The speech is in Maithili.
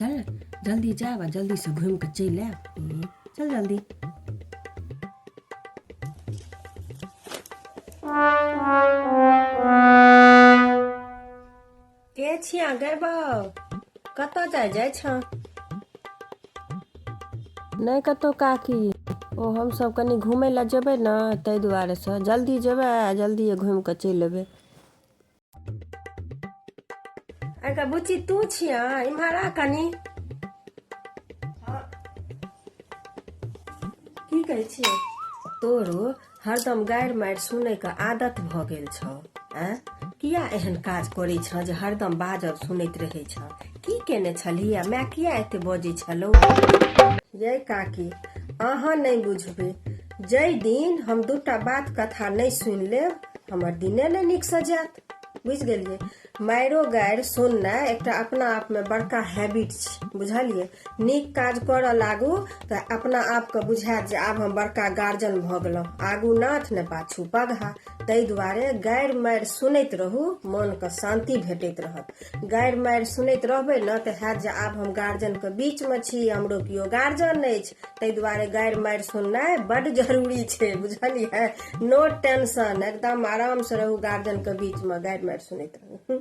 चल जल्दी जायब आ जल्दी से घूम के चल आयब चल जल्दी के छिया गए बाउ कतऽ जाय जाय छ नहि कतौ काकी ओ हमसभ कनि घूमय लए जेबै ने ताहि दुआरे से जल्दी जेबै आ जल्दिए घूमि कऽ चलि एबै अच्छा बुच्ची तू छिया इम्हर आ कनी की कहै छियै तोरो हरदम गारि मारि सुनैके आदत भऽ गेल छौ आँ किया एहन काज करै छौ जे हरदम बाजब सुनैत रहै छौ की केने छलियै माय किया एते बजै छलौ यै काकी अहाँ नहि बुझबै जाहि दिन हम दूटा बात कथा नहि सुनि लेब हमर दिने नहि नीकसँ जायत बुझि गेलियै मारिओ गारि सुननाइ एकटा अपना आपमे बड़का हैबिट छै बुझलियै नीक काज करऽ लागू तऽ अपना आपके बुझायत जे आब हम बड़का गार्जियन भऽ गेलहुँ आगू नाथ ने पाछू पगहा ताहि दुआरे गारि मारि सुनैत रहू मोनके शान्ति भेटैत रहत गारि मारि सुनैत रहबै ने तऽ हैत जे आब हम गार्जियनके बीचमे छी हमरो केओ गार्जियन अछि ताहि दुआरे गारि मारि सुननाइ बड्ड जरूरी छै बुझलियै नो टेंशन एकदम आरामसँ रहू गार्जियनके बीचमे गारि मारि सुनैत रहू